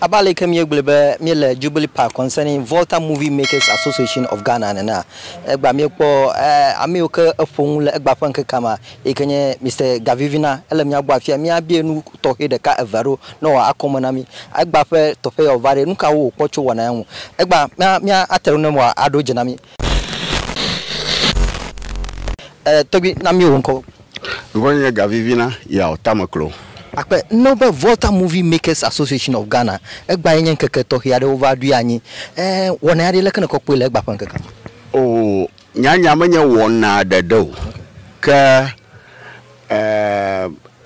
Abe aleke míegblɔe be míele Jubilee Park concerning Volta Movie Makers Association of Ghana nenea, egbea míekpɔ ame yiwo ke eƒo nu le egbea ƒe ŋkekea mea, eyi ke nye Mister Gavivina. Ele mía gbɔ afia míabiae nu tɔxɛ ɖeka, eve aɖewo ne wòaxɔ akɔme na mí. Egbea ƒe teƒe ya wòva ɖe, nu kawo wòkpɔ tso wɔna ya ŋu? Egbea mía, mía, ate ɖe eme ne wòaɖo dze na mí. E, tɔgbui, na mí wò ŋkɔ. Ŋkɔnye nye Gavivina Yaw Tameklo. Akpe no be Volta Movie Makers Association of Ghana, egbea ye nye ŋkeke tɔxɛ aɖe wova ɖoe anyi. E, wɔnɛ aɖe leke nèkɔ kpɔe le egbea ƒe ŋkekea me? O, nyanya menye wɔna ɖeɖe o, ke e,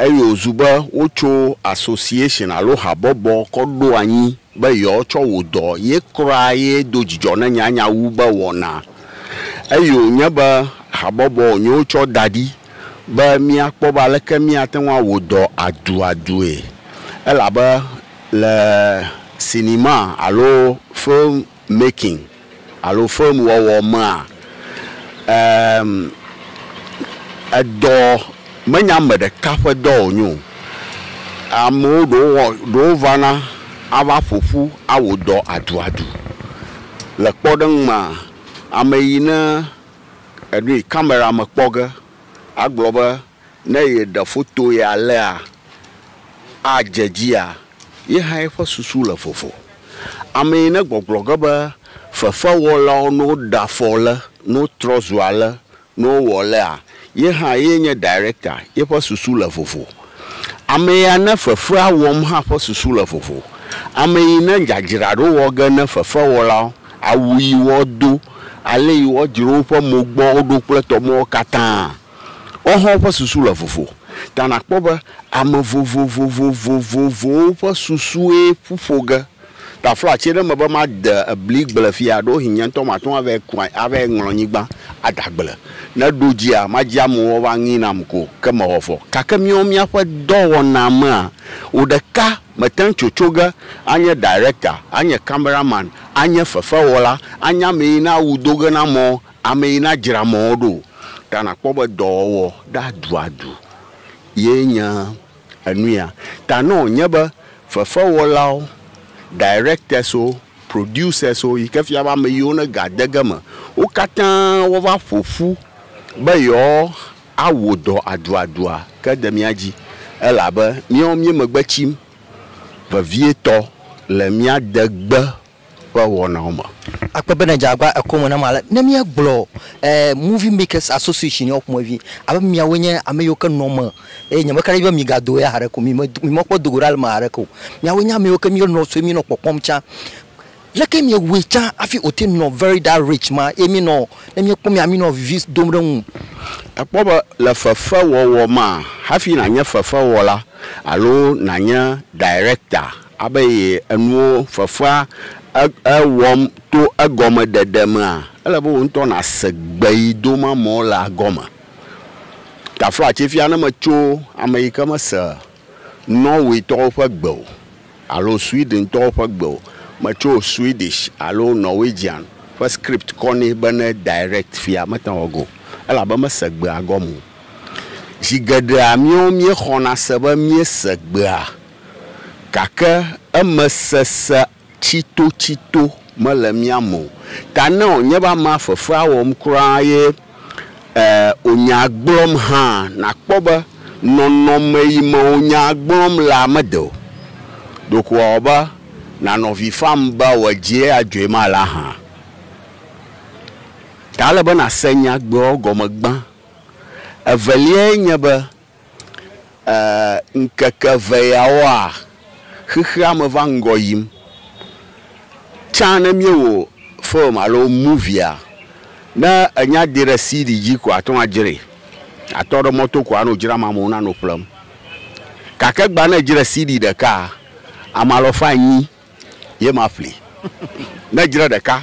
eye wòzu be wotso association alo habɔbɔ kɔ ɖo anyi be yewoatsɔ wò dɔ ye kura ye do dzidzɔ ne nyanya wu be wɔna Eye wònye be habɔbɔ wònye wotsɔ da ɖi be míakpɔ be aleke míate ŋu awɔ dɔ aduadue. Elabe le sinima alo film making alo film wɔwɔ mea, em, edɔ menye ame ɖeka ƒe dɔ wònye o. Amewo, ɖewo wɔ, ɖewo vana ava ƒo ƒu awɔ dɔ aduadu. Le kpɔɖeŋu mea, ame yi ne enu yi kamera me kpɔ ge agblɔ be ne yeɖe foto ye alea adze edzia, ye hã yeƒe susu le vovo. Ame yi ne gbɔgblɔ ge be fefewɔlawo ne woɖe afɔ ale, ne wotrɔ zu ale Ne wowɔ alea, ye hã ye nye director, yeƒe susu le vovo. Ame ya ne fefea wɔm hã ƒe susu le vovo. Ame yi ne dzadzraɖo wɔ ge ne fefewɔlawo, awu yi woado, ale yi wodzro woƒe mo gbɔ wo ɖo kple tɔmewo katã, wo hã woƒe susu le vovo. Ta nakpɔ be ame vovovovovovowo ƒe susue ƒuƒo ge. Taflatse ɖe me be made bli gble fia, ɖewohĩ nye ŋutɔ mate ŋu avae ku anyi, avae ŋlɔ nyigba ada agble. Ne ɖo dzia, madzi amewo woava ŋee nam ko, ke mewɔ vɔ. Gake míawo míaƒe dɔwɔnaa mea, wò ɖeka mète ŋu tso tso ge anye ɖayirekta, anye kameraman, anye fefewɔla, anye ame yi na awu do ge na mɔ, ame yi na dzra mɔwo ɖo o. Ta nakpɔ be dɔwɔwɔ ɖe aduadu ye nye. Enuya ta ne wònye be fefewɔlawo, directors-wo, producers-wo yi ke fia be ame yiwo ne ga de ge me wo katã wova ƒo ƒu be yewoawɔ dɔ aduadua, ke de mía dzi elabe míawo míemegbe tsim vevietɔ le mía degbe. ƒe wɔnawo me. Akpe be nèdze agbagba ekɔ me nam ale. Ne míegblɔ ɛ Movie Makers Association ya ƒomevi yi abe miawoe nye ame yiwo ke nɔ eme eye nyemeka ɖe edzi be migado eya haɖeke o, mimedo, mimekpɔ do go ɖa le eme haɖeke o. Miawoe nye ame yiwo ke míenɔ sue, míenɔ kpɔkpɔm tsã. Leke miewɔe tsã hafi wòte ŋu nɔ very that rich ma eye míenɔ, ne míekpɔ mia, míenɔ vivi dom ɖe eŋu? Èkpɔ be le fefewɔwɔ mea, hafi nànye fefewɔla alo nànye director Abe ye enuwo fefea ewɔm to egɔmeɖeɖe mea, ele be wò ŋutɔ nàse gbe yi do ma mɔ le agɔme. Taflatse fia ne metso ame yi ke mese Nɔwetɔwo ƒe gbe o alo Swedentɔwo ƒe gbe o. Metso Swedish alo Norwegian ƒe script kɔ nɛ be ne direct fia, mete ŋu awɔ ge o elabe mese gbea gɔme o. Zi geɖea míwo míexɔna se be míese gbea. Gake eme sese tsitotsito mele mía me o. Ta ne wònye be amea fefea wɔm kura ye e wònyaa gblɔm hã, nàkpɔ be nɔnɔme yi me wònyaa gblɔm lea mede o. Ɖeko wòawɔ be nànɔ avi fam be wòadzie adzɔe ma alea hã. Ta ele be nàse nyagblɔɖi gɔme gbã. Eveliae nye be Eer, ŋkeke eve yawoa, xexea me va ŋgɔ yim. Tsã ne míewɔ film alo movie, ne ènya de ɖe CD dzi koa, àte ŋu adzrae. Àtɔ ɖe mɔ to koa, anɔ dzram amewo nanɔ ƒlem. Gake egbea ne èdzra CD ɖekaa, ame alafa enyi. ye maƒli. Ne dzre ɖeka,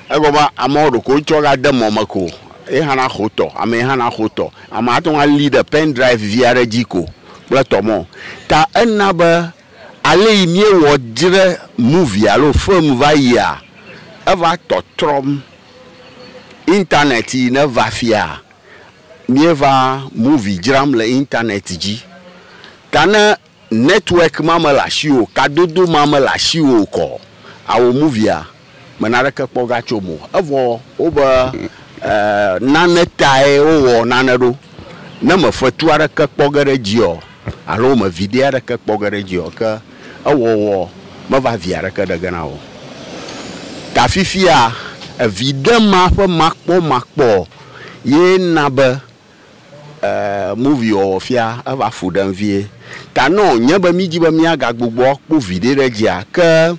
egɔme be amewo ɖeko wotsɔ ga de mɔ me ko ye hã naxo tɔ, amee hã naxo tɔ. Ame ate ŋu alii ɖe pen drive vi aɖe dzi ko kple tɔ mɔ. Ta ena be ale yi míewɔ dzre movie alo film va yia, eva tɔtrɔm. Internet yi ne va fia, míeva movie dzram le internet dzi. Ta ne Network ma mele asiwò, kadodo ma mele asiwò o kɔ awò movie a me naneke kpɔ ga tsom o. Evɔ wo be nane tae wo wɔ nane ɖo. Ne me fetu aɖeke kpɔ ge ɖe edzi ɔ alo me video aɖeke kpɔ ge ɖe edzi ɔ ke ewɔwɔ me va vi aɖeke ɖe ge na wò o. Ta fifia eviɖe ma ƒe makpɔ makpɔ ye na be Eee movie wɔwɔ fia eva fu ɖem vie. Ta nɔ nye be mí dzi be mía ga gbugbɔ kpɔ viɖe ɖe dzia ke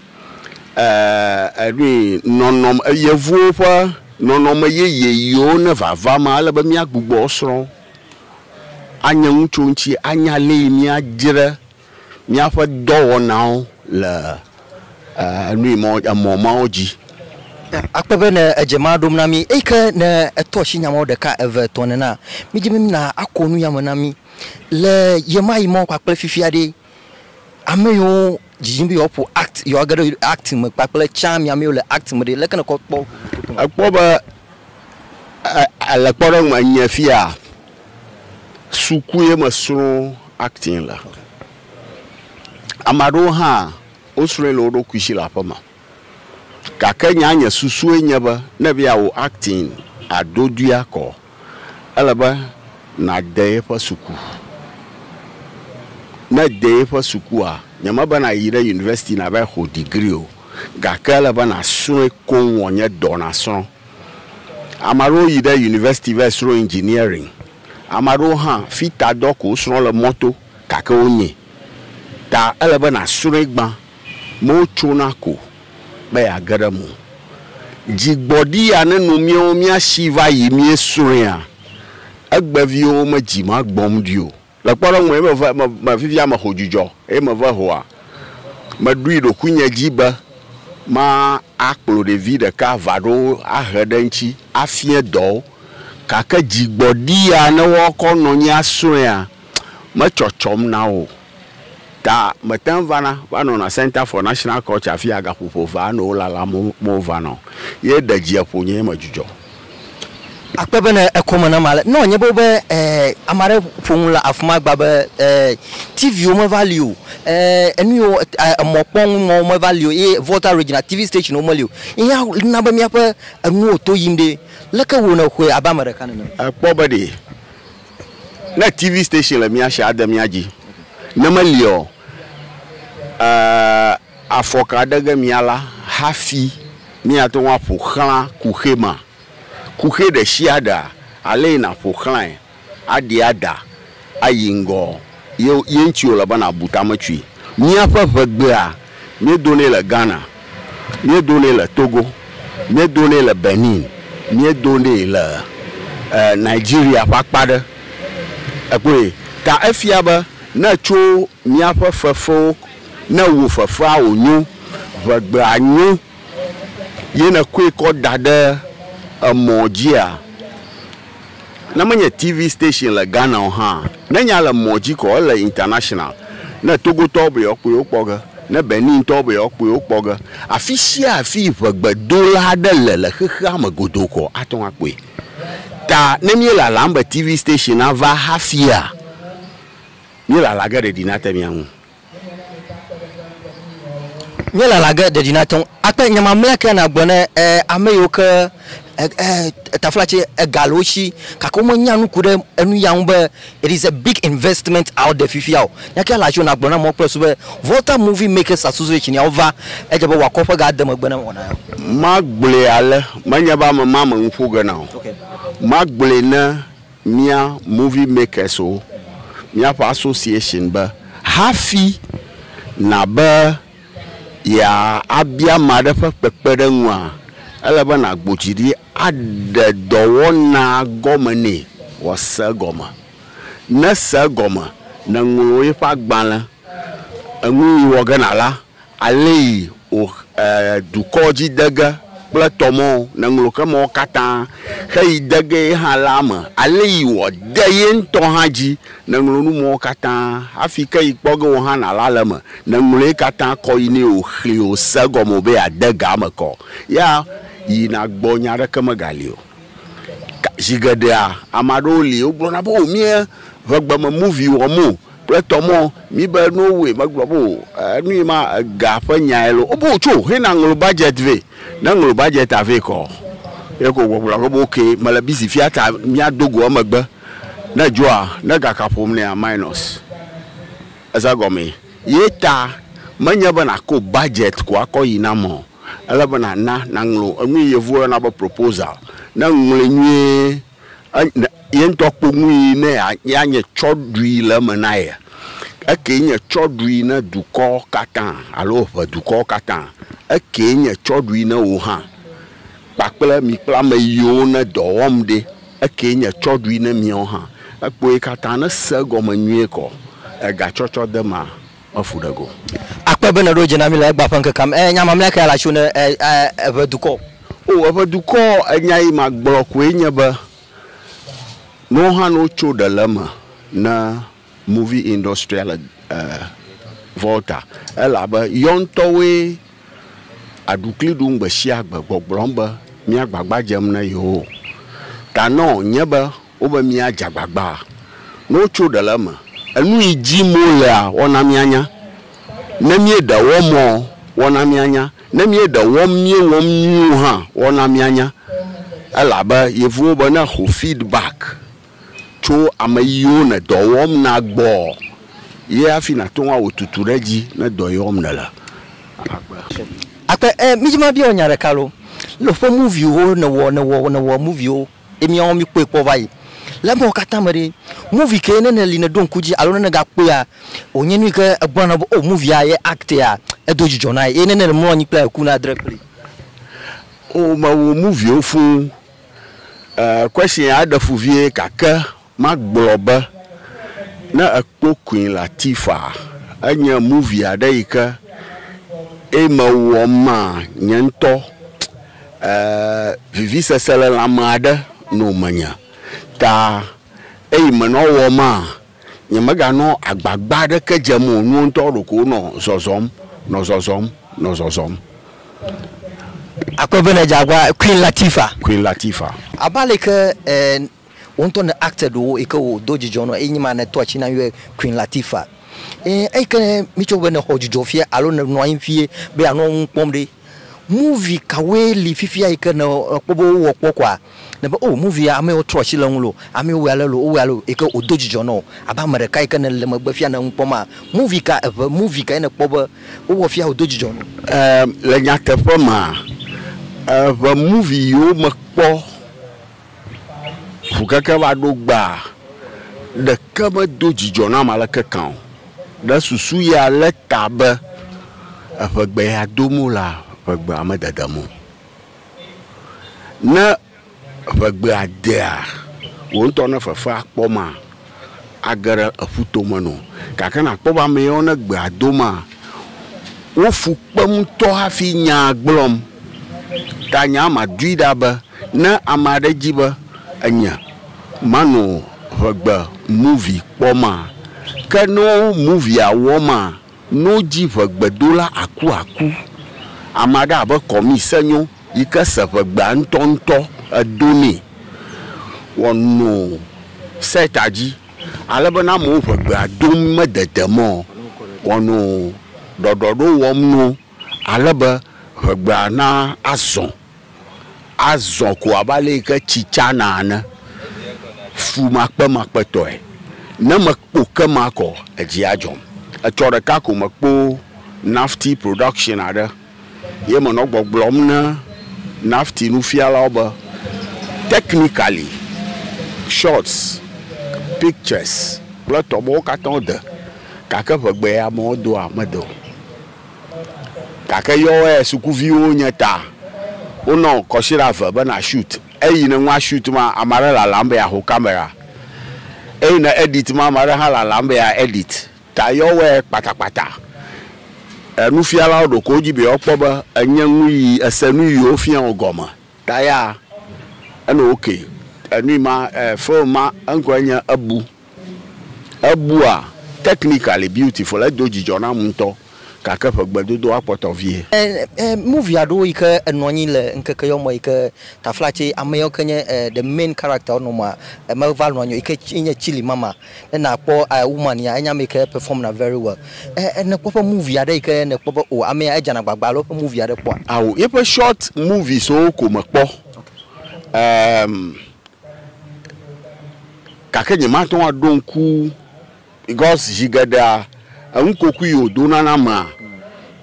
eee eɖui nɔnɔme eyevuwo ƒe nɔnɔme yeye yiwo ne vava me ale be mía gbugbɔ srɔ anye nu tso eŋuti anya le yi mía dzre. Míaƒe dɔwɔnawo le nui mɔ, emɔ mawo dzi. Akpe be ne edze ema ɖom na mí. Eyi ke ne eto asi nya mawo ɖeka, eve, etɔ̃ nenea, mídi be mina ako nu ya me na mí. Le ɣemaɣi mawo kpakple fifia ɖe, ame yiwo didim be yewoaƒo act, yewoage ɖe act me kpakple tsã mi ame yiwo le act me ɖe, leke nèkɔ kpɔ? Ekpɔ be, e, e, le kpɔɖeŋu me nye fiaa, Suku ye me srɔ acting le. Ame aɖewo hã wo srɔe le wo ɖokui si le aƒeme. Gake nya nye susue nye be ne be yeawɔ acting ado dui akɔ ele be na de yeƒe suku. Ne de yeƒe sukua nye me be na yi ɖe university na va yi xɔ degree o gake ele be na srɔe koŋ wɔ nye dɔ na srɔ. Ame aɖewo yi ɖe yunivɛsiti va yi srɔ̃ indziniɛriŋ. Ame aɖewo hã, fitadɔ ko wosrɔ̃ le mɔto gake wonyae. Ta ele be nàsrɔ̃e gbã be wotsona ko be yeage ɖe eme o. Dzigbɔɖi ya neno míawo míasi va yi míesrɔ̃ea, egbeviwo medzi magbɔmɖi o. Le kpɔɖeŋue, meve me, me fifia meho dzudzɔ eye meve hoa, meɖoe ɖokuinye dzi be ma akplɔ ɖevi ɖeka va ɖo ahe ɖe eŋtsi afie dɔwo. Gake dzigbɔɖi ya ne woakɔ nɔ anyi asrɔ̃ea, metsɔtsɔm na wo o. Ta mete ŋu vana, va nɔna Center for National Culture afia gaƒoƒo vea nɔ wolalam mo, mova nɔ o. Ye ɖe dzia ƒonye ye medzudzɔ. Akpe be ne ekɔ me nam ale, ne wòanye be wobe ame aɖe ƒo nu le afi ma gbã be TV-wo meva li o, enu yiwo, emɔkpɔnu mɔwo meva li o ye Volta Regina TV station wome li o ye hã na be míaƒe enuwo to yim ɖe. Leke wò nèxɔe abe ame ɖeka nene? Èkpɔ be ɖe ne TV station le mía si ade mía dzi ne meliaɔ, e. Afɔka ɖe ge mía la, hafi míate ŋu aƒo xlã kuxi ma. Kuxi ɖe sia ɖea ale yi nàƒo xlãe, aɖi ada, ayi ŋgɔ, ye, ye ŋuti wòle be nàbu tametsui. Míaƒe ʋegbea, míedonɛ le Ghana, míedonɛ le Togo, míedonɛ le Benin, míedonɛ le e, Nigeria ƒe akpa aɖe. Èkpɔe? Ta efia be ne ètso míaƒe fefewo. Ne wò fefea wò nyo, ʋegbea nyo ye ne koe kɔ da ɖe emɔ dzia, ne menye TV station le Ghana o hã, ne nya le mɔ dzi kɔ ele international, ne Togotɔwo be yewoa kpɔe wokpɔ ge, ne Benin tɔwo be yewoa kpɔe wokpɔ ge, afi sia afi ʋegbedola aɖe le le xexea me godoo kɔ ate ŋu akpɔe. Ta ne mía lalam be TV station nava hafia, mía lala ge ɖeɖi nate mía ŋu. Nye lala ge ɖeɖi na teŋ akpe nye mamlɛ ke na gblɔ ne e ame yiwo ke e e tafla tse ega le wo si gake wo me nya nuku ɖe enu ya ŋu be it is a big investment out there fifia o. Nya ke la tse na gblɔ na amewo kple susu be Volta Movie Makers Association ya wo va edze be wɔ akɔ ƒe ga de megbe ne wɔna ya. Ma gblɔe ale, menye be ame ma me nu ƒo ge na o. Ma gblɔe ne. mía Movie Makers wo míaƒe association be hafi na be yea abia ame aɖe ƒe kpekpe ɖe ŋua, ele be na gbo dzi ɖi aɖe dɔwɔna gɔme nɛ wɔ se egɔme. Ne se egɔme, ne ŋlɔ yeƒe agbalẽ, enu yi wɔ ge na la, Aleyi o e dukɔ dzi dege kple tɔ mɔ ne ŋlo ke mɔ katã xeyi dege ye hã la me. Aleyi wɔ de ye ŋtɔ hã dzi ne ŋlo nu mɔ katã hafi ke yi kpɔ ge wo hã na la le me ne ŋlo ye katã kɔ yi ne o xli o se gɔme o be ya de ga me kɔ. Ya yi na gbɔ nya ɖeke me ga li o. Zi geɖea, ame aɖewo li wogblɔna be o míe ŋe gbe me movie wɔm o kple tɔ mɔ mí be nu woe megblɔ be o enu ye ma ega ƒe nyae lo o be o tso hena ŋlo budget vɛ ne ŋlo budget a vɛ kɔ ye ko gbe gblɔ be ok me le busy fia ta mía do go emegbe ne edzɔa ne ga ka ƒom nɛa minus eza gɔme ye ta me nye be na ko budget ko akɔ yi na mɔ. Ele be nàna, nàŋlɔ enu yi Yevuwo yɔna be proposal. Ne èŋlɔe nyuie, ye ŋutɔ akpɔ nu yi ne yeanye tsɔɖui le eme na ye. Ekee nye tsɔɖui na dukɔ katã alo eŋe dukɔwo katã. Ekee nye tsɔɖui na wò hã kpakple mi kple ame yiwo ne dɔ wɔm ɖi. Ekee nye tsɔɖui na miawo hã. Ekpɔe katã, ne èse egɔme nyuie kɔ, egatsɔtsɔdemea, Mefu ɖe go. Akpe be nèɖo dze na mí le egbea ƒe ŋkekea me. E, nya mamlɛa kae la tso ne e, e, eƒe dukɔ? O, eƒe dukɔ, enya yi magblɔ koe nye be, no hã no tso ɖe le eme ne movie industry-a le e, Volta. Elabe yɔ ŋutɔwoe aɖukli ɖum gbe sia gbe gbɔgblɔm be, mía gbagba dzem ne yewo. Ta nɔ nye be Wobe míadze agbagba ne wotso ɖe le eme. Enu yi dim wolea, woana míanya. Ne míeɖe wɔmɔ, woana míanya. Ne míeɖe wɔm míewɔm nyuiwo hã, woana míanya. Elabe Yevuwo be ne èxɔ feedback tso ame yiwo nɔ dɔ wɔm na gbɔɔ, ye hafi nàte ŋu awɔ tutu ɖe edzi ne dɔ ye wɔm nèle ava kpe. Akpe, Ẽ, mídze mabiɔ wò nya ɖeka loo. Lɔƒo moviwo nèwɔ, nèwɔ, nèwɔ moviwo. ye míawo míkpɔe kpɔ va yi. Le emawo katã me ɖe, movie ke ne nèli nèɖo ŋku edzi alo ne nègakpɔea, wònye nu yi ke egblɔna na wò be o movie ya ye act ya, edo dzidzɔ na ye. Ye ne nèle mlɔ anyi kple ekuna dre kpli. O, mewu moviewo fũu. Ɛɛ, question ya eɖe fu vie gake Magblɔ be ne ekpɔ Queen Latifah enye movie aɖe yi ke eye mewɔ ma nye ŋutɔ e vivisese le lãme aɖe no menye ta eye me nɔ wɔ ma nye mega nɔ agbagba aɖeke dzem o nuwo ŋutɔ ɖeko nɔ zɔzɔm nɔ zɔzɔm nɔ zɔzɔm. Akpɔe be le dze agbagba Queen Latifah. Queen Latifah. Abe aleke e Wo ŋutɔ ne acted wo yi ke wòdo dzidzɔ nɔ enyi ma ne tɔ atsi na yɔe Queen Latifah. Ee, eyi ke mitsɔ be ne xɔ dzidzɔ fia alo ne nɔ anyi fie be anɔ nu kpɔm ɖe, movie kawoe li fifia yi ke ne ekpɔ be wowɔ kpɔ kɔa, nèbe o movie amewo trɔ atsi le eŋu loo, amewo wɔe ale loo, wowɔe ale loo yi ke wòdo dzidzɔ nɔ wò abe ame ɖeka yi ke ne le megbe fia ne nu kpɔm maa? Movie ka, eŋe movie kae nèkpɔ be wowɔ fia wòdo dzidzɔ nɔ wò? Ee, le nyateƒe mea, eŋe movie yiwo mekpɔ. Fukeke va ɖo gbaa, ɖeke medo dzidzɔ nam aleke kan o. Ɖe susu ya lé ta be eŋegbe ya dom wolea, ŋegbea mededem o. Ne ŋegbea dea, wò ŋutɔ ne fefea kpɔma? age ɖe eƒuto me nɔ. Gake nàkpɔ be ame yawo ne gbea doma, wo fu kpem ŋutɔ hafi nyaa gblɔm. Ta nyaa madoe ɖa be, ne ame aɖe di be enye mano ŋegbe muvi kpɔmaa, ke ne wo muvia wɔmaa, No dzi ʋe gbedola aku aku. Ame aɖe abe kɔmi se nyo yi ke se ʋe gbea ŋutɔ ŋutɔ edo nɛ wɔ no set a dzi ale be na amewo ʋe gbea dom me dede mɔ wɔ no ɖɔɖɔɖo wɔm no ale be ʋe gbea na azɔ. azɔ ko abe ale yi ke tsi tsana ene, fumakpemakpetɔe. Ne mekpo ke ma kɔ, edzi adzɔm. Etsɔ ɖeka ko mekpo NAFTI production aɖe ye menɔ gbɔgblɔm ne NAFTI nufialawo be, technically, shots, pictures kple tɔmewo katã wode gake ŋegbe ya me wodoa, mede o. Gake yɔwɔɛ sukuviwo nye ta. Wonɔ kɔsiɖa eve be na shoot. Eyi ne nua shoot ma, ame aɖe lalam be yeaho kamera. Eyi ne edit ma, ame aɖe hã lalam be yea edit. Ta yɔwɔɛ kpatakpata. Nufialawo ɖo ko wodi be yewoakpɔ be enye nuyi ese nuyi wofia wo gɔme. Ta ya enɔ ok. Enui ma, film ma eŋkɔe nye Ebu. Ebua, Technically beautiful, edo dzidzɔ nam ŋutɔ gake ƒe gbedodoa kpɔtɔ vie. Movie aɖewo yi ke enɔ anyi le ŋkeke yɔ me yi ke tafla tse ame yɔ ke nye the main character wonɔ mea, meva nɔ anyi o yi ke nye Chilli Mama. Ne nakpɔ woman ya enye ame yi ke perform na very well. Ne kpɔ eƒe movie aɖe yi ke nekpɔ be o amea edzana agbagba alo eƒe movie aɖe kpɔa? Ao, yeƒe short movies wo ko mekpɔ. Em. Gake nyemate ŋu aɖo ŋku because zi geɖea enu kokui yi wòdona na amea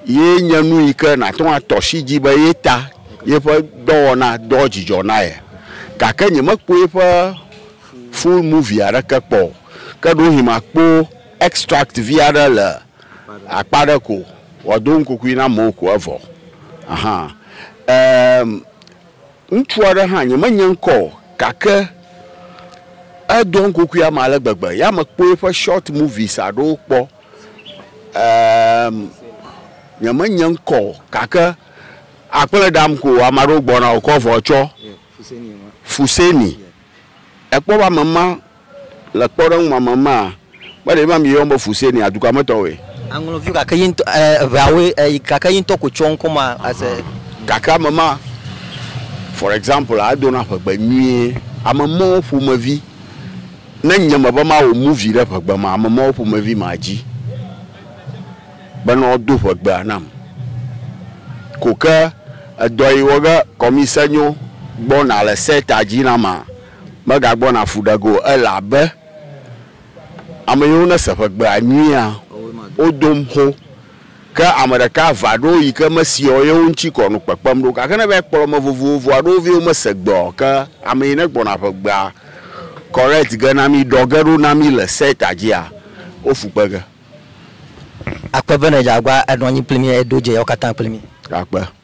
ye nye nu yi ke nàte ŋu atɔ asi dzi be ye ta yeƒe dɔwɔna doa dzidzɔ na ye. Gake nyemekpɔ yeƒe full movie aɖeke kpɔ o. Ke ɖewohĩ makpɔ extract vi aɖe le akpa aɖe ko wòado nukokui na amewo ko evɔ. Ahan. Em. Ŋutsu aɖe hã, nyemenya ŋkɔ o gake edoa ŋkukui ame ale gbegbe. Ya mekpɔe eƒe short movies aɖewo kpɔ. Eeem nyemenya ŋkɔ o gake akple ɖam ko ame aɖewo gbɔna wokɔ avɔ tsɔ. Fuseni Èkpɔ be ame ma le kpɔɖeŋu me, ame ma mele ema mieyɔm be Fusee nɛ a, dukɔa me tɔwoe. Aŋlɔ viwo gake ye ŋutɔ, eveawoe, gake ye ŋutɔ koe tsɔ ŋkɔ ma ase. Gake ame ma, for example, edo na ƒegbe nyuie. Ame mawo ƒomevi, ne nye me be mawɔ movie ɖe ƒegbe ma, ame mawo ƒomevi ma dzi. bena woado ʋegbea nam ko ke edɔ yi wɔ ge kɔmise nyo gbɔna le seta dzi na ma megagbɔna fu ɖe ge o elabe ame yiwo ne se ʋegbea nyuia wodom xo ke ame ɖeka va ɖo yi ke mesiɔ yewo ŋtsi kɔ nu kpekpem ɖo gake ne va kplɔ ame vovovo aɖewo vie wo mese gbe ɔ ke ame yi ne gbɔna ʋegbea correct ge na mi ɖɔ ge ɖo na mi le seta dzia wo fu kpe ge. Akpe be nèdze agua, ènɔ anyi kpli mí, eye èdo dze yawo katã kpli mí. Akpe.